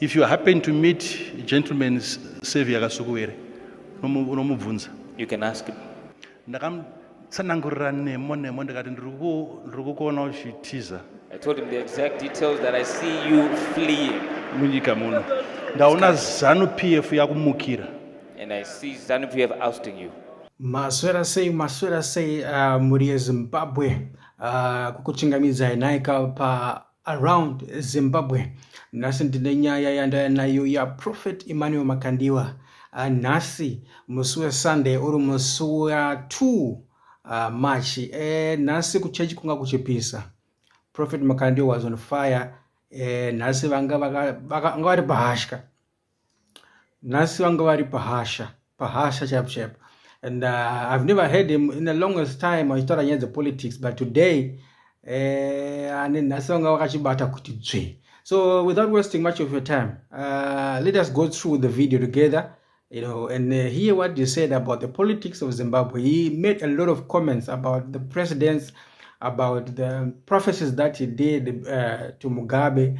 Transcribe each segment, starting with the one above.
If you happen to meet gentleman Savior Kasukuwere, unomubvunza. You can ask him. Ndakamutsanangurira nemo nemo ndikati ndiri kukuona uchitiza. I told him the exact details that I see you fleeing. Munyika muno. Ndaona Zanu PF yakumukira. And I see Zanu PF ousting you. Maswera sei maswera sei uh, muri yeZimbabwe uh, kukuchingamidzai nhaika pa Around Zimbabwe nhasi ndine nyaya yandaya nayo yaProphet Emmanuel Makandiwa ah, nhasi musi weSunday uri musi wa2 ah, March eh, nhasi kuchechi kunga kuchipisa Prophet Makandiwa was on fire eh, nhasi vanga vari pahashka nhasi vanga vari pahasha pahasha chaipo chaipo and uh, i've never heard him in the longest time achitaura nyaya dzepolitics but today eh, ane uh, nhasi vanga vakachibata kuti dzve so without wasting much of your time uh, let us go through the video together you know and uh, hear what you said about the politics of zimbabwe he made a lot of comments about the presidents about the prophecies that he did uh, to mugabe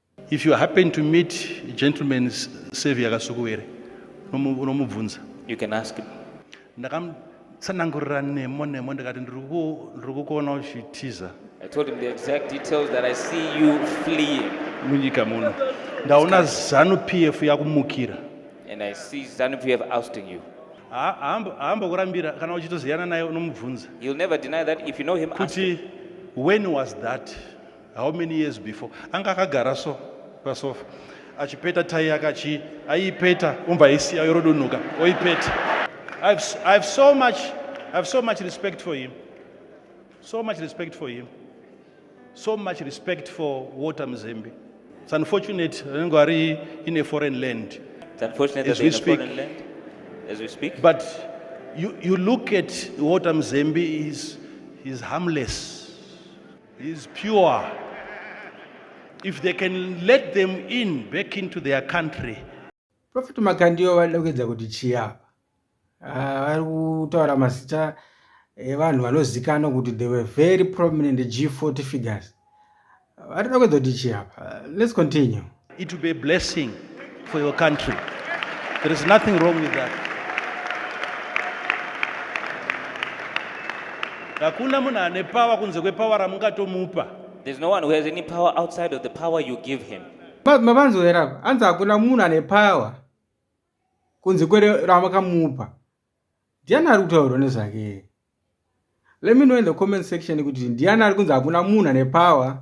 If you happen to meet gentleman Savior Kasukuwere, unomubvunza. You can ask him. Ndakamutsanangurira nemo nemo ndikati ndiri kukuona uchitiza. I told him the exact details that I see you fleeing. Munyika muno. Ndaona Zanu PF yakumukira. And I see Zanu PF ousting you. haambokurambira kana uchitoziyana naye unomubvunza. You'll never deny that if you know him. Kuti when was that? how many years before anga akagara so pasofa achipeta tai yake achi aiipeta umva aisiya yorodonhoka oipeta I've, I've so much I've so much respect for him so much respect for him so much respect for water mzembe it's unfortunate anenge ari in a foreign land it's unfortunate as we speak land, as we speak but you, you look at water mzembe is, is harmless He is pure. If they can let them in back into their country. Prophet Makandiyo vanoda kuedza kuti chii apa? Ah, vari kutaura mazita evanhu vanozikanwa kuti they were very prominent G40 figures. Vanoda kuedza kuti chii apa? Let's continue. It will be a blessing for your country. There is nothing wrong with that. Hakuna munhu ane power kunze kwepower ramungatomupa. There's no one who has any power outside of the power you give him. Mavanzwera apa anzi hakuna munhu ane power kunze kwere ramakamupa. Ndiani ari kutaurwa nezvake? Let me know in the comment section kuti ndiani ari kunzi hakuna munhu ane power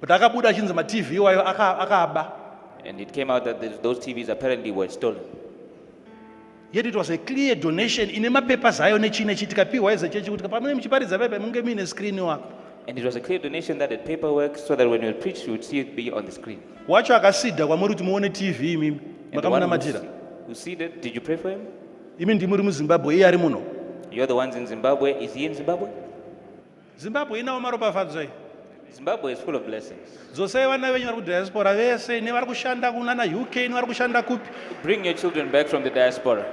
but akabuda achinzi matv iwayo akaaba and it came out that those tvs apparently were stolen yet it was a clear donation ine mapapers ayo nechii nechii tikapiwa eze chechi kuti pamune muchiparidza pepe munge muine screen wako And it was a clear donation that the paperwork so that when you preach, you would see it be on the screen. wacho akasidha kwamuri kuti muone tv imimi And the one makamunamatira who see that, did you pray for him? imi ndimuri muzimbabwe iye ari muno You're the ones in Zimbabwe. Is he in Zimbabwe? zimbabwe inawo maropafadzo iyi zimbabwe is full of blessings dzosai vana venyu vari kudiaspora vese nevari kushanda kunana uk nevari kushanda kupi bring your children back from the diaspora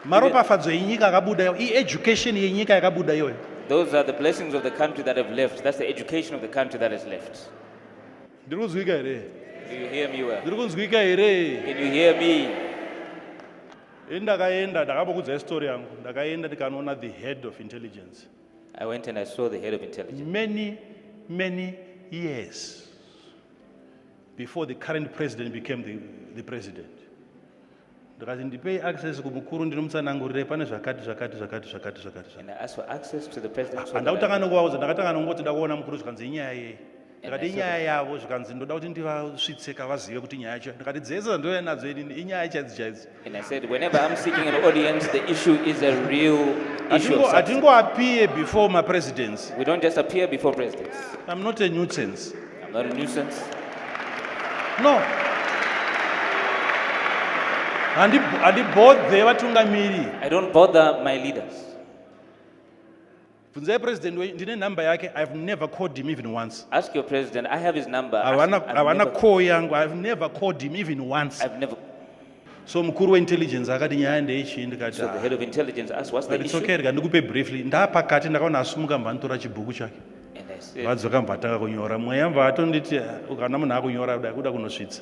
maropafadzo enyika akabuda iyo ieducation yenyika yakabuda iyoyo those are the blessings of the country that have left that's the education of the country that has left ndiri kunzwika here ndiri kunzwika here ndakaenda ndakapokudzai story yangu ndakaenda ndikanoona the head of intelligence I went and I saw the head of intelligence. Many, many years before the current president became the, the president. ndikati ndipei access kumukuru ndinomutsanangurire pane zvakati zvakati zvakati zvakati zvakati zvakati. And I asked for access to the president. so that I Handakutanga could- nokuvaudza ndakatanga nokungoti ndakuona mukuru zvikanzi inyaya yei. ndikati inyaya yavo zvikanzi ndoda kuti ndivasvitse kavazive kuti nyaya yacho ndikati dzese dzandouya nadzo inini inyaya chaidzo chaidzo hatingoappear before mapresidents we don't just appear before presidents i'm not a nuisance i'm not a nuisance no handibodhe vatungamiri i don't bother my leaders bvunzai president wenyu ndine number yake i have never called him even once ask your president i have his number havana call yangu i have never called him even once I've never... so mukuru weintelligence akati nyaya ndeichii ndikati so the ah. head of intelligence asked what's the issue okay rega ndikupe briefly ndapakati ndakaona asumuka mva nditora chibhuku chake vadzoka mva atanga kunyora mweya mva atonditi ah, kana munhu akunyora kuda kunosvitsa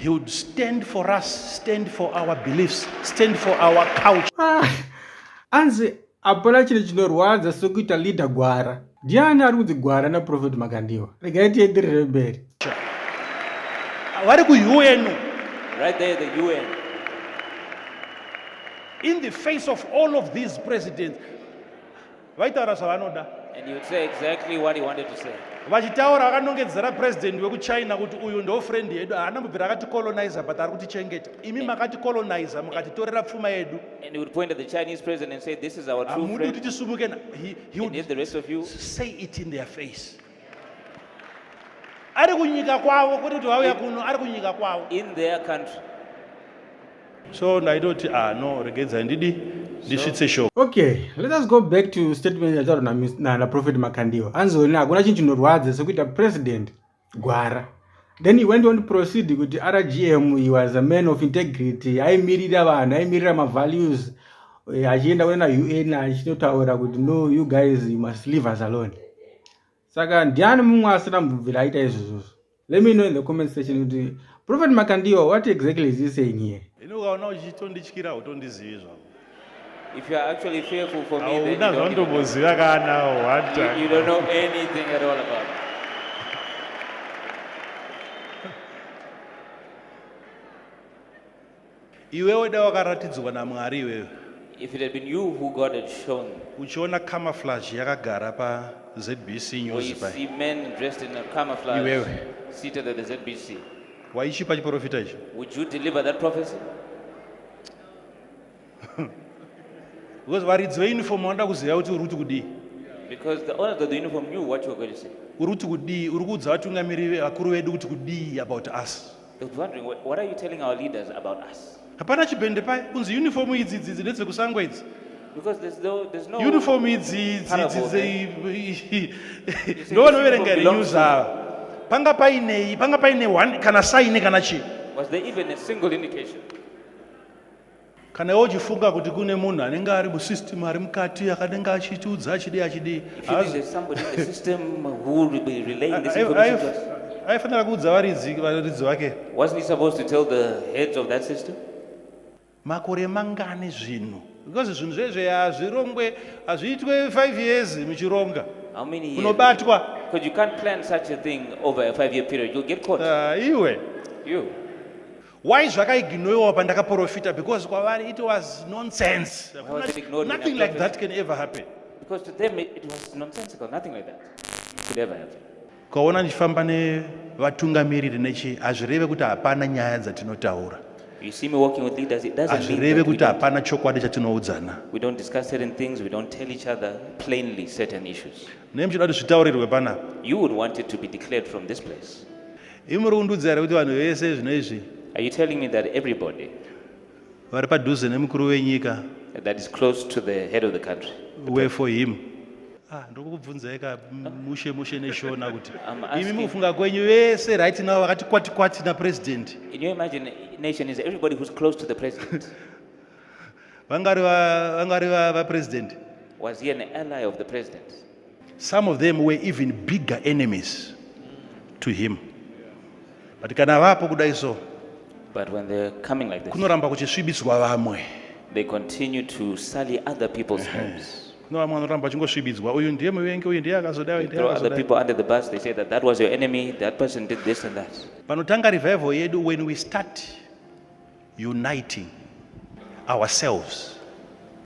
He would stand for us, stand for our beliefs, stand for our culture. Ah, anzi hapana chiri chinorwadza sokuita leader gwara. Ndiani ari kunzi gwara naProphet Makandiwa? Regai tienderere mberi. Vari kuUN. Right there the UN. In the face of all of these presidents, vaitaura zvavanoda vachitaura vakanongedzera president wekuchina kuti uyu ndo friend yedu haana mubvira akati colonizer but ari kutichengeta imi makati colonizer mukatitorera pfuma yedu hamudi kuti tisumuke say it in their face ari kunyika kwavo kwete kuti vauya kuno ari kunyika kwavo in their country so ndaitoti ah no regedzai ndidi ndisvitse show okay let us go back to statement yataurwa naprofet makandiwa anzi wena hakuna chinhu chinorwadza sekuita president gwara then he went on to proceed kuti rgm he was a man of integrity aimirira vanhu aimirira mavalues eh, achienda kuna un achinotaura kuti no you guys you must leave us alone saka ndiani mumwe asina mbubvira aita izvozvozvo let me know in the comment section kuti prophet makandiwa what exactly is he saying here ini ukaona uchitondityira utondizivi zvako If you are actually fearful for me, then you don't, even know. You, you don't know anything at all about it. iwewe da wakaratidzwa namwari iwewe If it had been you who God had shown, uchiona camouflage yakagara pazbc when news you pai see men dressed in a camouflage Iwewe. seated at the ZBC, waichipa chiprofita ichi would you deliver that prophecy? because varidzi veuniform vanoda kuziva kuti uri kuti kudii Because the owners of the uniform knew what you were going to say. uri kuti kudii uri kuudza vatungamiriri vakuru vedu kuti kudii about us hapana chibhende paye kunzi uniform idzi idzi idzi kusangwa idzi because there's no there's no uniform idzi idzi idzi ndo vanoverenga ri news ava panga paine panga paine one kana sign kana chi was there even a single indication kana iwe uchifunga kuti kune munhu anenge ari musystem ari mukati akanenge achitiudza achidii achidii aifanira kuudza varidzi varidzi vake makore mangani zvinhu because zvinhu zvezve hazvirongwe hazviitwe five years muchironga unobatwa Because you can't plan such a thing over a five year period. You'll get caught. Uh, iwe. You. Why zvakaignoiwa pandakaprofita because kwavari it was nonsense. Nothing like that can ever happen. Because to them it, it was nonsensical, nothing like that could ever happen. Ukaona ndichifamba nevatungamiriri nechi hazvireve kuti hapana nyaya dzatinotaura. You see me walking with leaders, it doesn't mean hazvireve kuti hapana chokwadi chatinoudzana. We don't discuss certain things, we don't tell each other plainly certain issues. Nei muchida kuti zvitaurirwe panapa? You would want it to be declared from this place. Imi muri kundiudza here kuti vanhu vese zvino izvi Are you telling me that everybody vari padhuze nemukuru wenyika that is close to the head of the country, were for him? Ah, ndiri kukubvunzai ka mushe mushe neshona kuti I'm imi asking- mukufunga kwenyu vese right now vakati kwati kwati napresident in your imagination, is everybody who's close to the president? vangari va- vangari va- vapresident Was he an ally of the president? some of them were even bigger enemies to him but kana vapo kudai so but when they're coming like this kunoramba kuchisvibiswa vamwe they continue to sully other people's homes no vamwe vanoramba vachingosvibidzwa uyu ndiye muvengi uyu ndiye akazoda panotanga revival yedu when we start uniting ourselves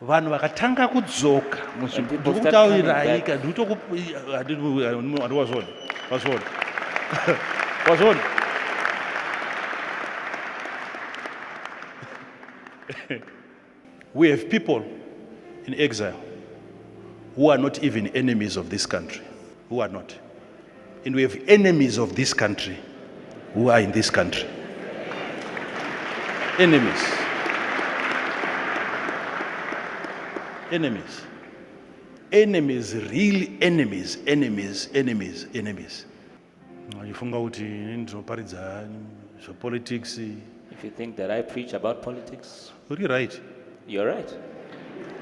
vanhu vakatanga kudzoka muzvimbotauriraika ndikutokuandiwazvona wazvona wazvona we have people in exile who are not even enemies of this country who are not And we have enemies of this country who are in this country. Enemies. Enemies. Enemies, real enemies, enemies, enemies, enemies. Ndifunga kuti ndinoparidza zvepolitics If you think that I preach about politics, uri right you're right.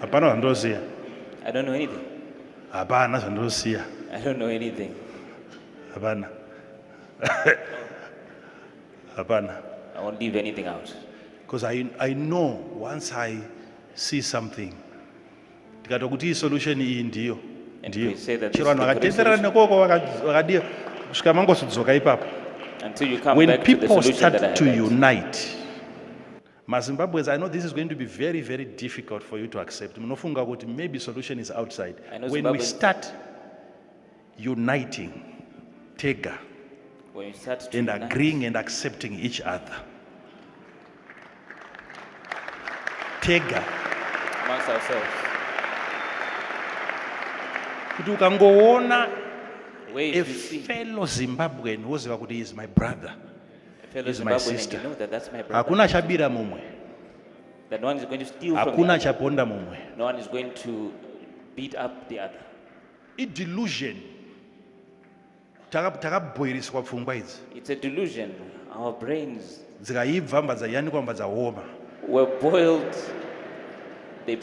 hapana zvandosiya I don't know anything. hapana zvandosiya I don't know anything. hapana hapana I won't leave anything out. because I, I know once i see something tikatwa kuti solution iyi ndiyo ndiyo chero vanhu vakatenderana nekoko vakadii kusvika mangosudzoka ipapo when people start to unite mazimbabweans i know this is going to be very very difficult for you to accept munofunga kuti maybe solution is outside when we start uniting tega and agreeing and accepting each other tega kuti ukangoona a fellow zimbabwean woziva kuti is my brother is my sister hakuna chabira mumwe hakuna chaponda mumwe no one is going to beat up the other idelusion takabhoiriswa pfungwa idzi it's a delusion our brains dzikaibva mbadza yanikwa mbadza homa were boiled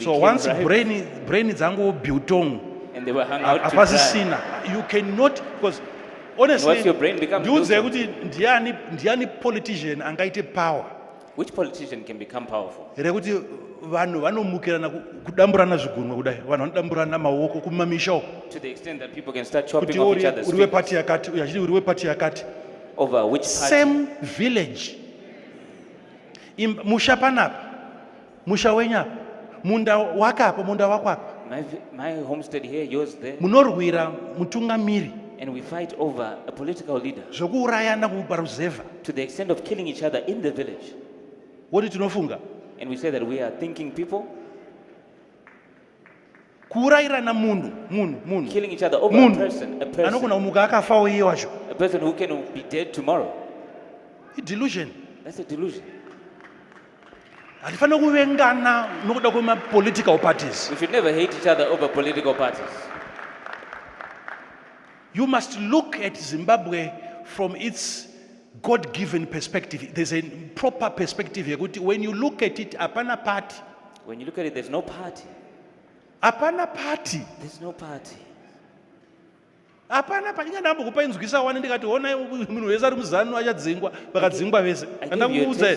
so once ripe. brain brain dzangu biltong and they were hung out apasisina you cannot because honestly ndiudzei kuti ndiani ndiani politician angaite power Which politician can become powerful? Here kuti vanhu vanomukirana kudamburana zvigunwe kudai vanhu vanodamburana maoko kumamisha uko to the extent that people can start chopping off each other's kuti uri wepati yakati uyu achiti uri wepati yakati over which party? same village Im- musha panapa musha wenyu apa munda wake apa munda wako apa my, my homestead here yours there munorwira mutungamiri and we fight over a political leader zvekuurayana kuparuzevha to the extent of killing each other in the village woti tinofunga and we say that we are thinking people kuurayirana munhu munhu munhu killing each other over a person a person anogona kumuka akafawo iye wacho a person who can be dead tomorrow i delusion that's a delusion hatifanira kuvengana nokuda kwemapolitical parties we should never hate each other over political parties You must look at Zimbabwe from its God given perspective. There's a proper perspective here. When you look at it, apana party. When you look at it, there's no party. Apana party. There's no party. hapana panyika ndambo kupa inzwisa wani ndikati honai munhu wese ari muzanu achadzingwa vakadzingwa vese andakuudza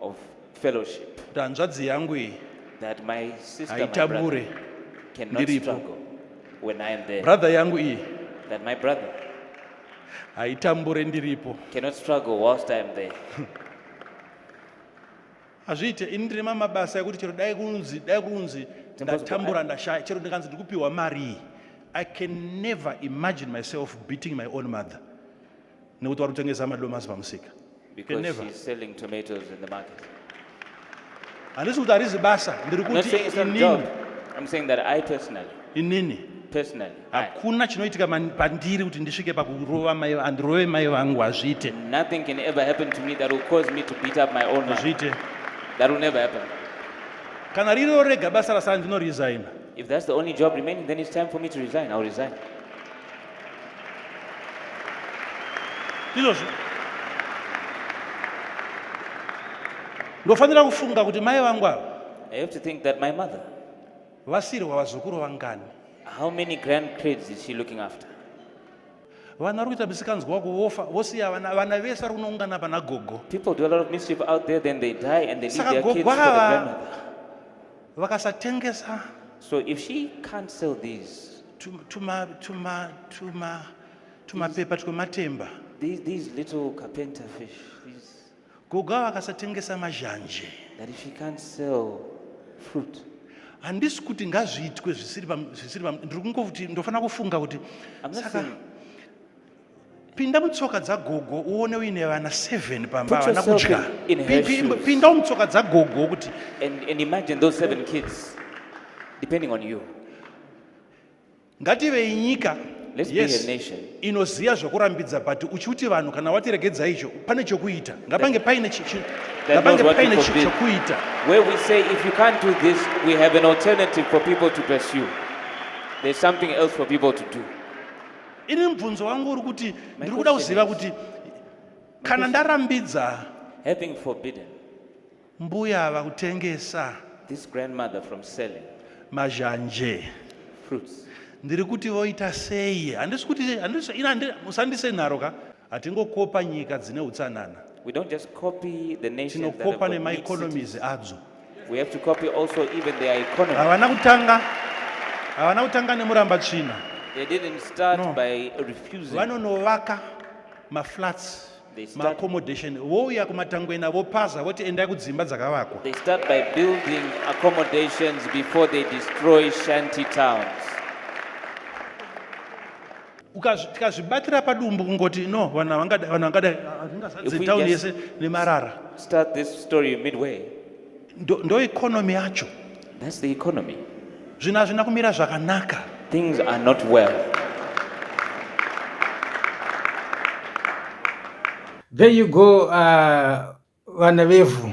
of fellowship kuti hanzvadzi yangu iyi that my sister, my brother haitabure cannot ndiripo. struggle when I am there. brother yangu iyi That my brother haitambure ndiripo cannot struggle whilst I am there. hazviite ini ndine mamwe mabasa ekuti chero dai kunzi dai kunzi ndatambura ndashaya chero ndikanzi ndikupiwa mari iyi i can never imagine myself beating my own mother nekuti vari kutengesa madomasi pamusika handisi kuti harizi basa ndiri kuti inini hakuna chinoitika pandiri kuti ndisvike pakurova mai andirove mai vangu hazviite hazviite kana ririwo rega basa rasara ndinoresigna If that's the only job remaining, then it's time for me to resign. I'll resign. izvozvo ndofanira kufunga kuti mai vangu ava I have to think that my mother, vasirwa vazukuru vangani how many grandkids is she looking after? vana vari kuita misikanzwa wako vofa vosiya vana vana vese vari kunoungana pana gogo People do a lot of mischief out there, then they die and they leave Saka their kids for the gogo ava- grandmother. vakasatengesa so if she can't sell these tumapepa twematemba these, these little carpenter fish these, gogo ava akasatengesa mazhanje that if she can't sell fruit handisi kuti ngazviitwe zvisiri ndiri kungokuti ndofanira kufunga kuti saka pinda mutsoka dzagogo uone uine vana 7 pamba vana kudya pinda mutsoka dzagogo kuti and imagine those seven kids depending on you ngativei nyika yes inoziva zvokurambidza but uchiuti vanhu kana watiregedza icho pane chokuita ngapange paine ngapange paine chokuita where we say if you can't do this we have an alternative for people to pursue there's something else for people to do ini mubvunzo wangu uri kuti ndiri kuda kuziva kuti kana ndarambidza having forbidden mbuya ava kutengesa this grandmother from selling mazhanje fruits ndiri kuti voita sei handisi kuti handisi ina musandise nharo ka hatingokopa nyika dzine utsanana we don't just copy the nation tinokopa nemaeconomies adzo we have to copy also even their economy havana kutanga havana kutanga nemuramba tsvina they didn't start no. by refusing vanonovaka maflats maaccommodation vouya kumatangwena vopaza voti endai kudzimba dzakavakwa they start by building accommodations before they destroy shanty towns tikazvibatira padumbu kungoti no vanhu havangada vanhu vangada hatingazadze town yese nemarara start this story midway ndo, ndo economy yacho that's the economy zvinhu hazvina kumira zvakanaka things are not well there you go uh, vana vevhu